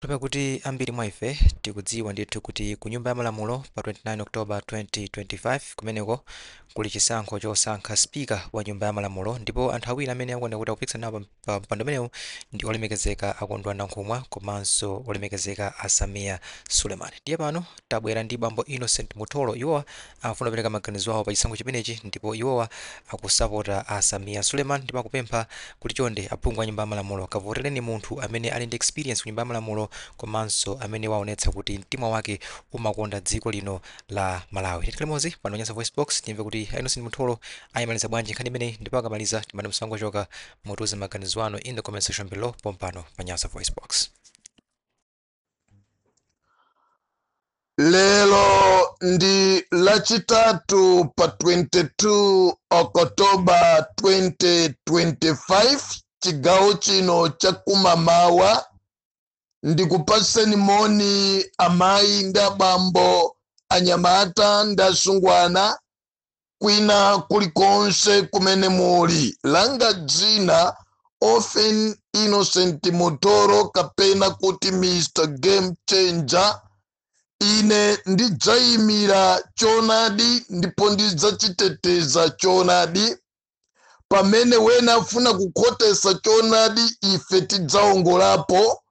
Pakuti ambiri mwa ife tikudziwa ndithu kuti ku Nyumba ya Malamulo pa 29 October 2025 kumeneko kuli chisankho chosankha Speaker wa Nyumba ya Malamulo ndipo anthu awiri amene akuoneka kuti akupikisana nawo pa, pa mpando umenewu ndi olemekezeka a Kondwani Nankhumwa komanso olemekezeka a Sameer Suleman. Ndiye pano tabwera ndi bambo Innocent Mutholo iwowa afuna kupereka maganizo awo pa chisankho chimenechi ndipo iwowa akusapota a Sameer Suleman ndipo akupempha kuti chonde aphungu a nyumba ya malamulo kavotereni munthu amene ali ndi experience ku nyumba ya malamulo komanso amene waonetsa kuti mtima wake umakonda dziko lino la Malawi. Tikhale limodzi pano pa Nyasa Voice Box tiyimve kuti a Innocent Mutholo ayimaliza bwanji nkhani imeneyi ndipo akamaliza timati musangochoka mutiuze maganizo anu in the comment section below pompano pa Nyasa Voice Box. lelo ndi lachitatu pa 22 Okotoba 2025 chigawo chino cha kumamawa ndikupatseni moni amayi ndi abambo anyamata ndi asungwana kwina kulikonse kumene muli langa dzina Often Innocent Mutholo kapena kuti Mr Game Changer ine ndidzayimira choonadi ndipo ndidzachiteteza choonadi pamene wena afuna kukhotesa choonadi ife tidzaongolapo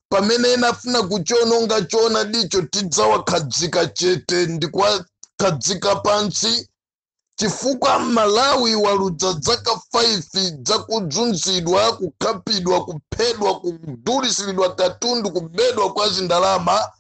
pamene ena afuna kuchiononga choonadicho tidzawakhadzika chete ndi kuwakhadzika pansi chifukwa Malawi waludza dzaka 5 dzakuzunzidwa kukhapidwa kuphedwa kudulitsiridwa katundu kubedwa kwa zindalama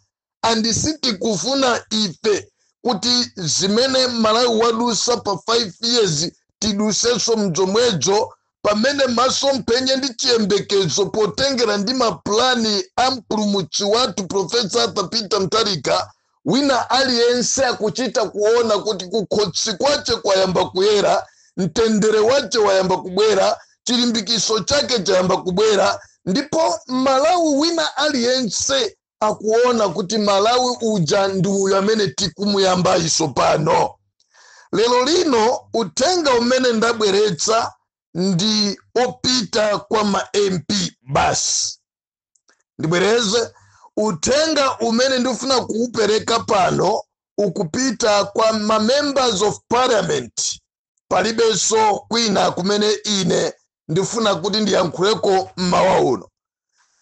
and sitikufuna ife kuti zimene Malawi wadusa pa 5 years tiduseso mzomwedzo pamene masomphenya ndi chiyembekezo potengera ndi ma plan a mpulumutsi wathu Prof Arthur Peter Mutharika wina aliyense akuchita kuona kuti kukhosi kwache kwayamba kuyera, mtendere wache wayamba kubwera, chilimbikiso chake chayamba kubwera ndipo Mmalawi wina aliyense akuona kuti Malawi uja ndi uyu amene tikumuyambayu tsopano. Lero lino uthenga umene ndabweretsa ndi opita kwa ma MP basi. Ndibwereze, uthenga umene ndifuna kuwupereka pano ukupita kwa ma members of parliament palibenso kwina kumene ine ndifuna kuti ndiyankhuleko mmawa uno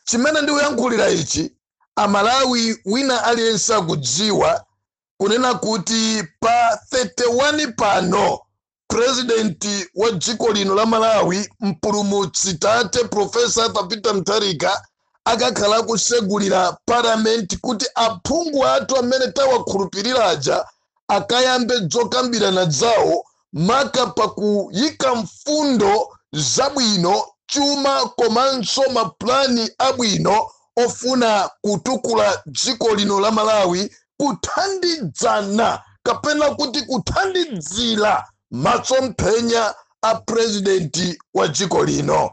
chimene ndikuyankhulira ichi amalawi wina aliyense akudziwa kunena kuti pa 31 pano purezidenti wa dziko lino la malawi mpulumutsi tate profesa arthur peter mutharika akakhala akusegulira parliament kuti aphungu athu amene tawakhulupirira aja akayambe dzokambirana dzawo maka pa kuyika mfundo zabwino, chuma komanso ma plan abwino ofuna kutukula dziko lino la Malawi kuthandidzana kapena kuti kuthandidzira masomphenya a President wa dziko lino.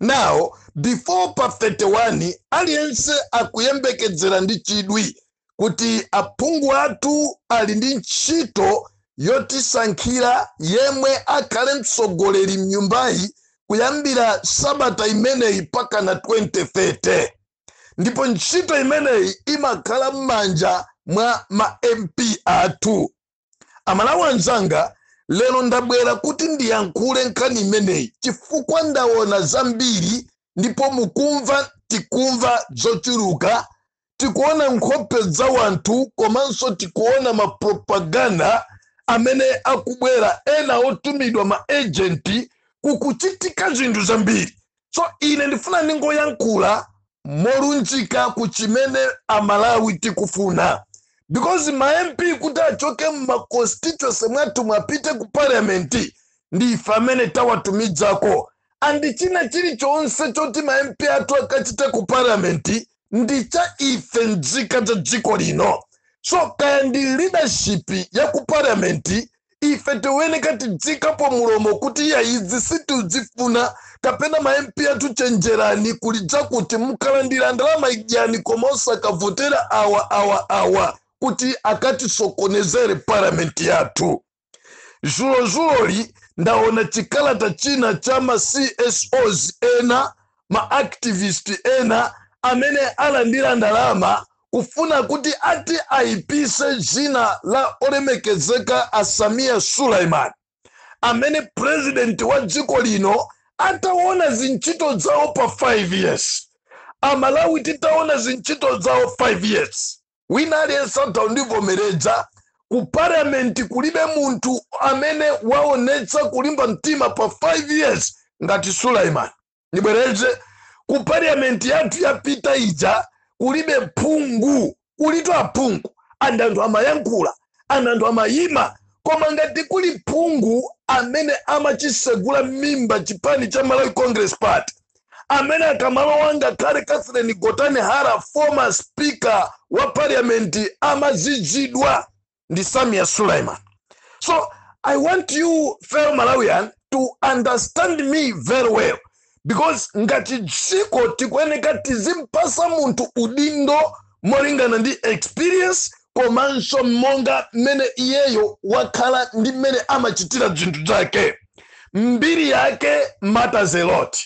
now before pa 31 aliyense akuyembekedzera ndi chidwi kuti aphungu athu ali ndi ntchito yotisankhira yemwe akhale mtsogoleri mnyumbayi kuyambira sabata imeneyi pakana 2030 ndipo ntchito imeneyi imakhala m'manja mwa ma mp athu Amalawi anzanga, lero ndabwera kuti ndiyankhule nkhani imeneyi chifukwa ndaona zambiri ndipo mukumva, tikumva zochuluka, tikuona nkhope za wanthu komanso tikuona ma propaganda amene akubwera, ena otumidwa ma agent, kukuchitika zinthu zambiri. so ine ndifuna ndingoyankhula molunjika ku chimene amalawi tikufuna because ma mp kuti achoke mma constituency mwathumu apite ku parliament ndi ife amene tawatumidzako and china chilichonse choti ma mp athu akachite ku parliament ndi cha ife mzika za dziko lino so kaya ndi leadership ya ku parliament ife tiweneka tidziikapo mulomo kuti iya izi sitiudzifuna kapena ma mp athu chenjerani kuli dzakuti mukalandira ndalama idyani koma osakavotera awa awa awa kuti akatisokonezere parliament yathu Zulozuloli ndaona chikalata china cha ma CSOs ena, ma activist ena amene alandira ndalama kufuna kuti ati aipise dzina la Olemekezeka a Sameer Suleman amene president wa dziko lino ataona zintchito dzawo pa 5 years. Amalawi titaona zintchito dzawo 5 years. Wina aliyense atha kundivomeredza. Ku parliament kulibe munthu amene waonetsa kulimba mtima pa 5 years ngati Suleman. Ndibwereze ku parliament yathu yapita ija kulibe phungu, kulitu aphungu and anthu amayankhula and anthu amayima koma ngati kuli phungu amene amachisegula mimba chipani cha Malawi Congress Party amene akamalowa ngakhale Catherine Gotani Hara former speaker wa parliament amazizidwa ndi Sameer Suleman so I want you fellow Malawian to understand me very well because ngati dziko tikuyeneka tizimpasa munthu udindo molingana ndi experience komanso monga mmene iyeyo wakhala ndi mmene amachitira zinthu zake mbiri yake matters a lot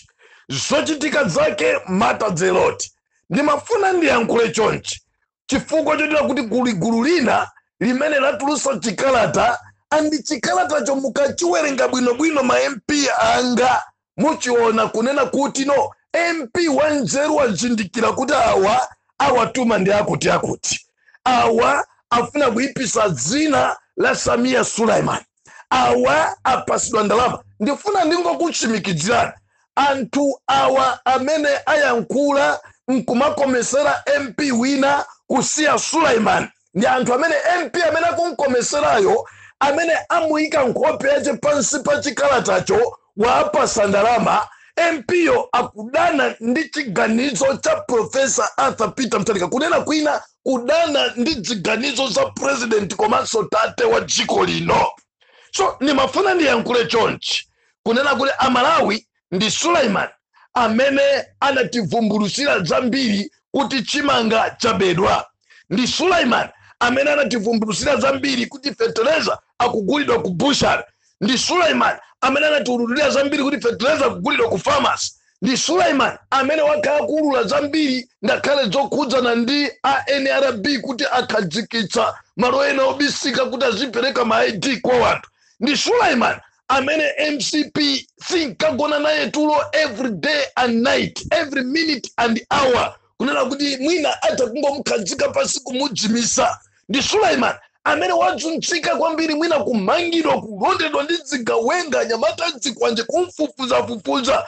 zochitika zake matters a lot ndimafuna ndiyankhule chonchi chifukwa chotera kuti kuli gulu lina limene latulusa chikalata andi chikalatacho mukachiwerenga bwinobwino ma mp anga muchiona kunena kuti no MP wanzeru wazindikira kuti awa awatuma ndi akuti akuti awa afuna kuipisa dzina la Sameer Suleman awa apasidwa ndalama ndifuna ndingokutsimikizirani anthu awa amene ayankhula nkumakomesera MP wina kusiya Suleman ndi anthu amene mp amene akumkomeserayo amene amuyika nkhope yace pansi pa chikalatacho waapasa ndalama mp-yo akudana ndi chiganizo cha profesa arthur peter mutharika kunena kwina kudana ndi ziganizo za president komanso tate wa dziko lino so ndimafuna ndiyankhule chonchi kunena kuti amalawi ndi Suleman amene anativumbulutsira zambiri kuti chimanga chabedwa. Ndi Suleman amene anativumbulutsira zambiri kuti fetereza akugulidwa ku butchery. Ndi Suleman amene anatiululira zambiri kuti fetereza akugulidwa ku pharmacy. Ndi Suleman amene wakhala kuulula zambiri ngakhale zokhudzana ndi a NRB kuti akhazikitsa malo ena obisika kuti azipereka ma ID kwa wanthu. Ndi Suleman amene mcp sinkagona naye tulo every day and night every minute and hour kunena kuti mwina atha kungomkhazika pasi kumuzimitsa ndi suleman amene wazunzika kwambiri mwina kumangidwa kulondedwa ndi zigawenga anyamata azikwanje kumfufuzafufuza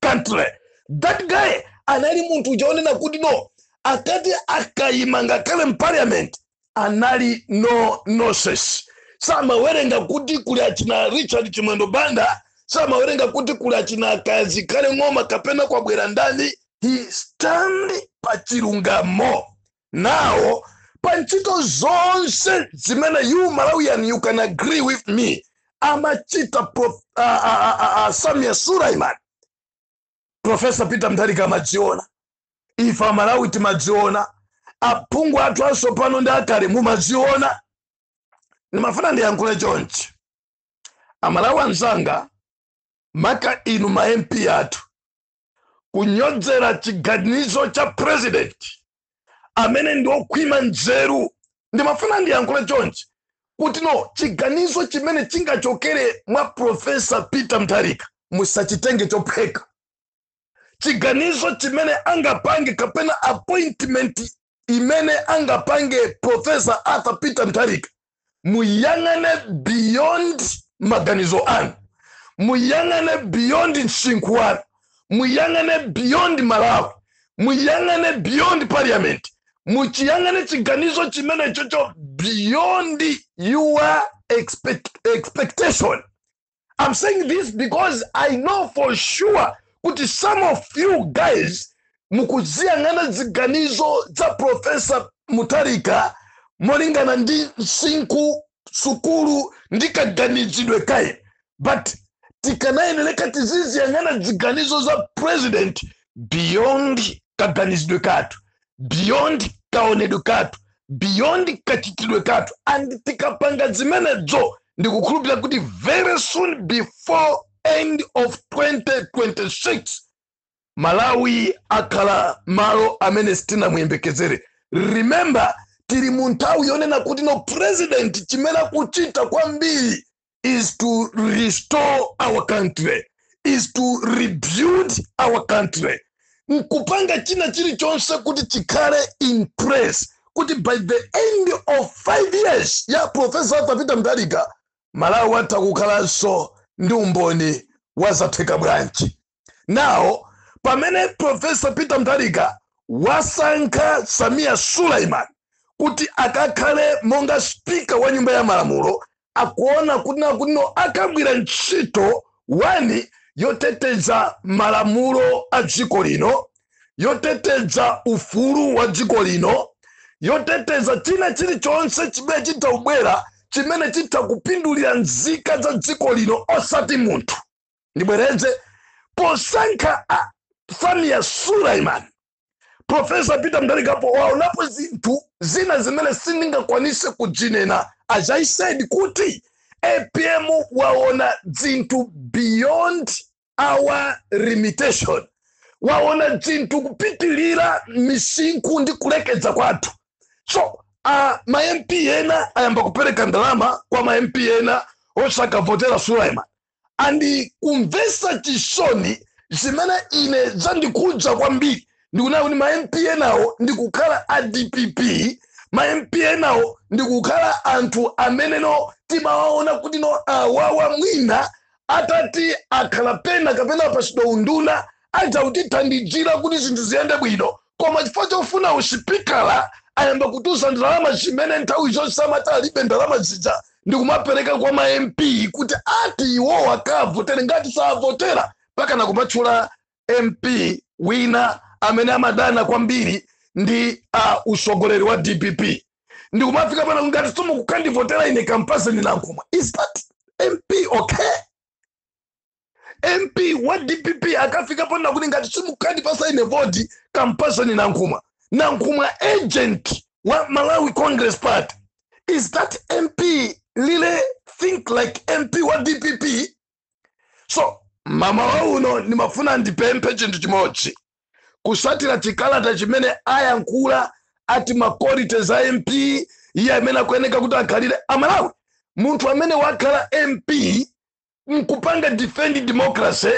country that guy anali munthu uja onena kuti no akati akayima ngakhale mparliament anali no nonsense samawerenga kuti kuli achina richard chimwendo banda samawerenga kuti kuli achina ken zikhale ng'oma kapena kwabwera ndani he stand pa chilungamo Now, pa ntchito zonse zimene you Malawian you can agree with me amachita prof, uh, uh, uh, uh, Sameer Suleman Professor Peter Mutharika amadziona ife amalawi timadziona aphungu athu atsopano ndi akale mumadziona ndimafuna ndiyankhule chonchi amalawi anzanga maka inu ma mp athu kunyodzera chiganizo cha president amene ndi okhwima nzeru ndimafuna ndiyankhule chonchi kuti no chiganizo chimene chingachokere mwa profesa peter mutharika musachitenge chophweka chiganizo chimene angapange kapena appointment imene angapange professor arthur peter mutharika muyang'ane beyond maganizo anu muyang'ane beyond msinkhu wanu muyang'ane beyond malawi muyang'ane beyond parliament muchiyang'ane chiganizo chimenechocho beyond your expect, expectation I'm saying this because I know for sure kuti some of you guys mukuziyang'ana ziganizo za Professor Mutharika molingana ndi msinkhu sukulu ndi kaganizidwe kake but tikanayeneleka tiziziyang'ana ziganizo za president beyond kaganizidwe kathu beyond kaonedwe kathu beyond kachitidwe kathu and tikapanga zimenezo ndikukhulupirira kuti very soon before end of 2026 malawi akhala malo amene sitinamuyembekezere remember tili mu nthawi yonena kuti no president chimene akuchita kwambiri is to restore our country is to rebuild our country nkupanga china chilichonse kuti chikhale in place kuti by the end of five years ya profesa arthur peter mutharika malawi atha kukhalanso ndi umboni wa zatheka bwanji Now, pamene Professor Peter Mutharika wasankha Sameer Suleman kuti akakhale monga speaker wa nyumba ya malamulo akuona kunena kuti no akagwira ntchito one yoteteza malamulo a dziko lino yoteteza ufulu wa dziko lino yoteteza china chilichonse chimene chitha kubwera chimene chitha kupindulira nzika za dziko lino osati munthu ndibwereze posankha Samia Suleiman Profesa Peter Mutharika waonapo zinthu zina zimene sindingakwanise kuzinena as I said kuti APM waona zinthu beyond our limitation waona zinthu kupitilira misinkhu ndi kulekeza kwathu so uh, ma MP ena ayamba kupereka ndalama kwa ma MP ena osakavotera Suleiman andi kumvesa chisoni zimene ine zandikhudza kwambiri ndikuona kuti ma mp enawo ndikukhala a dpp ma mp enawo ndikukhala anthu amene no timawaona kuti no awawa mwina atati akhala pena kapena apasidwa unduna adzakutithandizira kuti zinthu ziyende bwino koma chifukwa chofuna usipikala ayamba kutulutsa ndalama zimene nthawi zonse amati alibe ndalama zija ndikumapereka kwa ma mp kuti ati iwowo akavotere ngati savotera mpakana kumatchula mp wina amene amadana kwambiri ndi a utsogoleri wa dpp ndikumafika poti ngati simukukandivotera ine kampatseni nankhumwa is that mp okay mp wa dpp akafika ponena kuti ngati simukandipatsa ine voti kampatseni nankhumwa nankhumwa agent wa malawi congress party is that mp really think like mp wa dpp so mmawa uno ndimafuna ndipemphe chinthu chimodzi kutsatira chikalata chimene ayankhula ati ma qualities a mp iye amene akuyeneka kuti akhalire amalawi munthu amene wakhala mp nkupanga defend democracy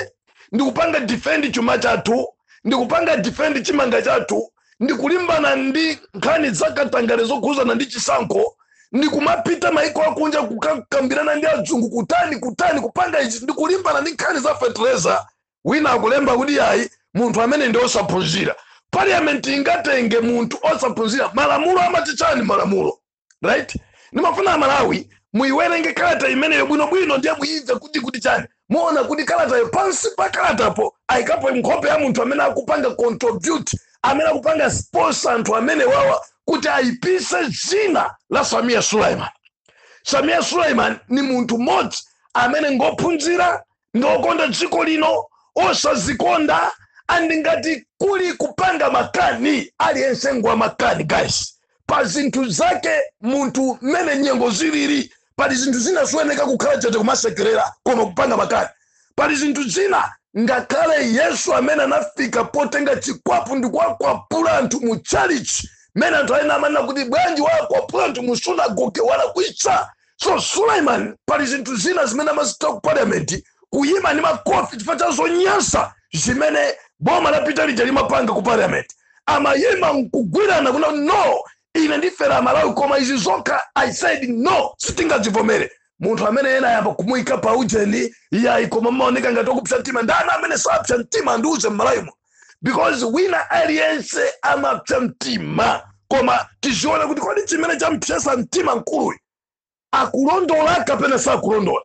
ndikupanga defend chuma chathu ndikupanga defend chimanga chathu ndikulimbana ndi nkhani zakatangale zokhuzana ndi chisankho ndikumapita mayiko akunja kukakambirana ndi adzungu kutani kutani kupanga ichi ndikulimbana ndi nkhani za fertilizer wina akulemba kuti ayi munthu amene ndi osaphunzira parliament ingatenge munthu osaphunzira malamulo amati chani malamulo right ndimafuna amalawi muyiwerenge kalata imeneyo bwinobwino ndiye muyimve kuti kuti chani muona kuti kalatayo pansi pa kalatapo ayikapo nkhope ya munthu amene akupanga contribute amene akupanga sponsor anthu amenewawa kuti ayipise dzina la samia suleiman samia suleiman ndi munthu mmodzi amene ngophunzira ngokonda dziko lino osazikonda and ngati kuli kupanga makani aliyense ngwa makani guys pa zinthu zake munthu mmene nyengo zilili pali zinthu zina siwoyeneka kukhala chete kumasekerera koma kupanga makani pali zinthu zina ngakhale yesu amene anafika potenga chikwapu ndi kuwakwapula anthu mu chalichi mmene anthu ena amanena kuti bwanji wakwapula anthu mu sunagoge walakwitsa so suleiman pali zinthu zina zimene amazichita ku parliament kuyima ndi makofi chifukwa cha zonyansa zimene boma lapita lija limapanga ku parliament amayima nkugwirana kunena no ine ndifera malawi koma izi zokha i said no sitingazivomere munthu amene ena ayamba kumuyika pa ujeni iyayi koma amaoneka ngati okupsa mtima ndani amene sapsa mtima andiuze mmalawimo because wina aliyense amapsa mtima koma tiziona kuti kodi chimene champsesa mtima mkuluyi akulondola kapena sakulondola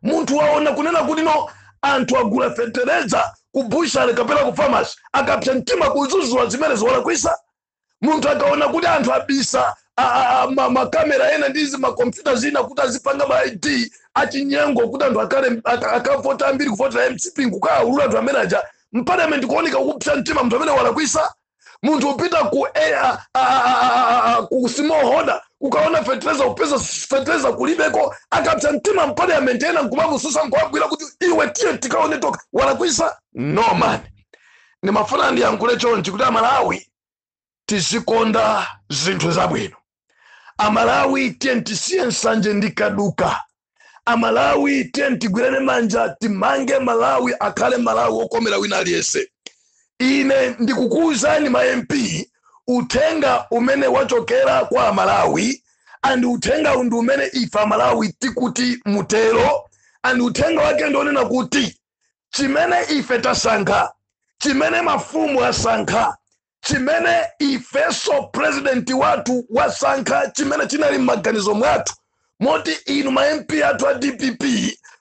munthu waona kunena kuti no anthu agula fetereza ku bushale kapena ku famasi akapsa mtima kuzuzula zimene izi walakwisa munthu akaona kuti anthu abisa makamera ena ndi zimakompyuta zina kuti azipanga ma id achinyengo kuti anthu akavote ambiri kuvotera mcp nkukaawulula anthu amene aja m'parliament kuoneka kupsa mtima munthu amene walakwisa munthu wapita ku smallholder kukaona fetereza kupeza fetereza kulibeko akapsa mtima m'parliament ena nkumamususa nkuwagwira kuti iwe tiye tikaone tokha walakwisa no man ndimafuna ndiyankhule chonchi kuti amalawi tizikonda zinthu zabwino amalawi tiyeni tisiye nsanje ndi kaduka amalawi tiyeni tigwirane manja timange malawi akhale malawi wokomera wina aliyense ine ndikukuwuzani ma mp uthenga umene wachokera kwa amalawi and uthenga wu ndi umene ife amalawi tikuti mutero and uthenga wake ndi onena kuti chimene ife tasankha chimene mafumu asankha chimene ifeso purezidenti wathu wasankha chimene chinali m'maganizo mwathu moti inu ma mp athu a dpp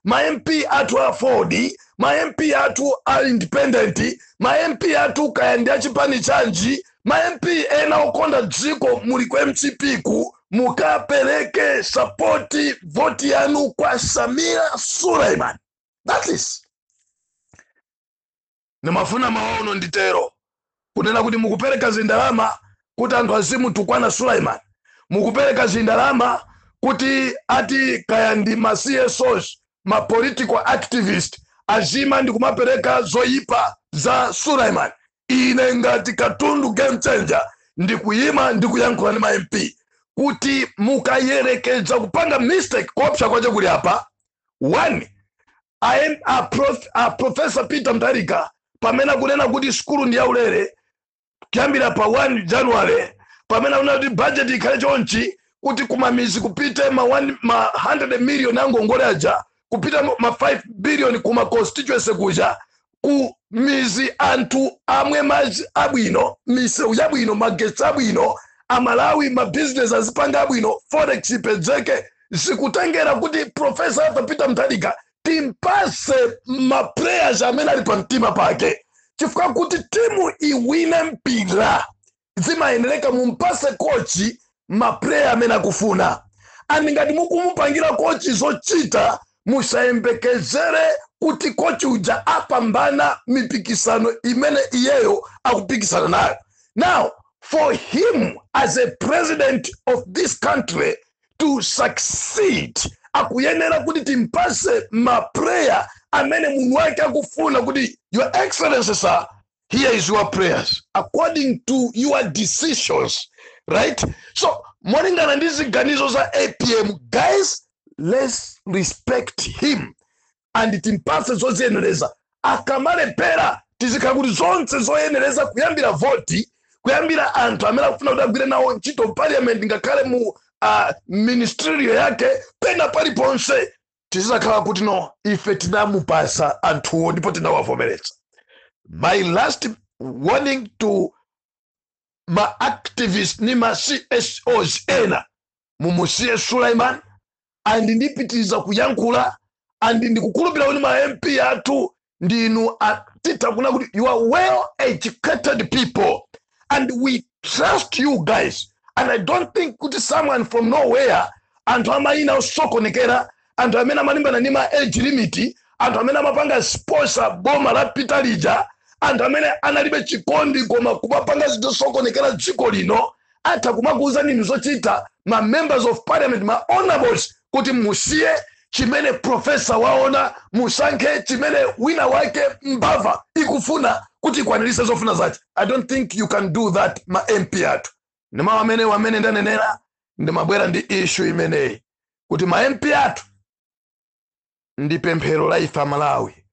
ma mp athu a aford ma mp athu a independent ma mp athu kaya ndi achipani chanji ma mp ena okonda dziko muli ku mcp ko mukapereke sapoti voti yanu kwa sameer suleiman that is ndimafuna mawa uno nditero kunena kuti mukupereka zindalama kuti anthu azimutukwana suleiman mukupereka zindalama kuti ati kaya ndi ma csos ma political activist aziima ndi kumapereka zoyipa za suleiman ine ngati katundu game changer ndikuyima ndikuyankhula ndi ma mp kuti mukayerekeza kupanga mistake kuopsa kwake kuli apa 1 a, a, prof, a profesa peter mutharika pamene akunena kuti sukulu ndi yaulere kuyambira pa 1 january pamene akunena kuti bajeti ikhale chonchi kuti kumamizi kupite ma, one, ma 100 million angongole aja kupite ma 5 billion kuma constituency kuja ku mizi anthu amwe madzi abwino misewu yabwino magetsi abwino amalawi mabizinesi azipanga abwino forex ipezeke zikutengera kuti profesa arthur peter mutharika timpase maplayers amene ali pa mtima pake chifukwa kuti timu iwine mpira zimayeneleka mumpase coach ma player amene akufuna and ngati mukumupangila coach zochita musayembekezele kuti coach uja apambana mipikisano imene iyeyo akupikisana nayo now for him as a president of this country to succeed akuyenera kuti timpase ma player amene munhu wake akufuna kuti your excellency sir here is your players according to your decisions right so molingana ndi ziganizo za apm guys let's respect him and timpase zoziyenereza akamalephera tizizakhala kuti zonse zoyenereza kuyambira voti kuyambira anthu amene akufuna kuti agwire nawo ntchito parliament ngakhale mu uh, ministerial yake pena paliponse tizizakhala kuti no ife tinamupasa anthuwo ndipo tinawavomeretsa my last warning to ma activist ni ma csos ena mumusiye suleiman and ndipitiriza kuyankhula and ndikukhulupirira kuti ma mp athu ndinu a- titha kunena kuti you are well educated people and we trust you guys and i don't think kuti someone from nowhere anthu amayina osokonekera anthu amene amalimbana ndi ma age limit anthu amene amapanga sponsor boma lapitali lija anthu amene analibe chikondi koma kumapanga zinthu zosokonekera dziko lino atha kumakuuzani inu zochita ma members of parliament ma honorables kuti musiye chimene profesa waona musankhe chimene wina wake mbava ikufuna kuti ikwanirise zofuna zache i don't think you can do that ma mp athu ndi mawu amene wamene ndanenera ndimabwera ndi issue imeneyi kuti ma mp athu ndi pemphero la ife amalawi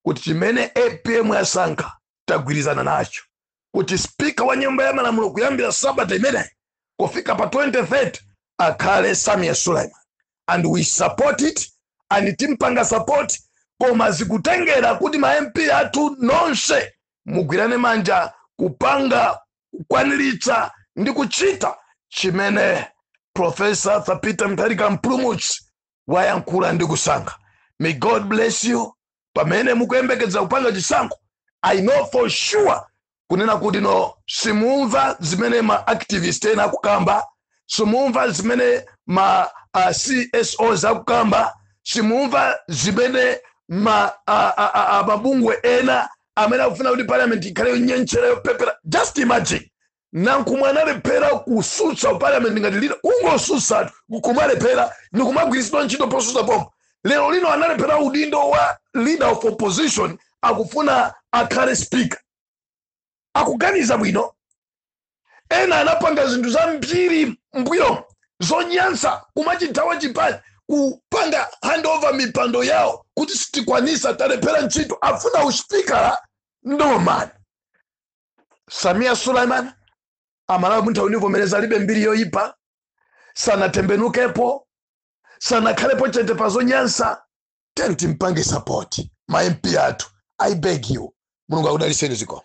kuti chimene apm yasankha tagwirizana nacho kuti spika wa nyumba ya malamulo kuyambira sabata imeneyi kufika pa 2030 akhale sameer suleiman and we support it and timpanga support koma zikutengera kuti ma mp athu nonse mugwirane manja kupanga kukwaniritsa ndi kuchita chimene profesa arthur peter mutharika mpulumutsi wayankhula ndi kusankha may god bless you pamene mukuyembekeza kupanga chisankho i know for sure kunena kuti no simumva zimene ma activist ena akukamba simumva zimene ma uh, csos akukamba simumva zimene ma uh, uh, uh, uh, mabungwe ena amene akufuna kuti parliament ikhale yonyentchera yopepera just imagine nankhumwa analephera kusutsa parliament ngati lina kungosutsatu kumalephera ndikumagwiritsidwa ntchito posusa pompo lero lino analephera udindo wa leader of opposition akufuna akhale speaker akuganiza bwino ena anapanga zinthu zambiri mbuyo zonyansa kumachithawa chipani kupanga handover mipando yawo kuti sitikwanisa talephera ntchito afuna uspikala no man sameer suleman amalawi muntha kundivomereza alibe mbiri yoyipa sanatembenukepo sanakhalepo chete pa zonyansa tiyeni timpange support ma mp athu i beg you mulungu akudaliseni zikomo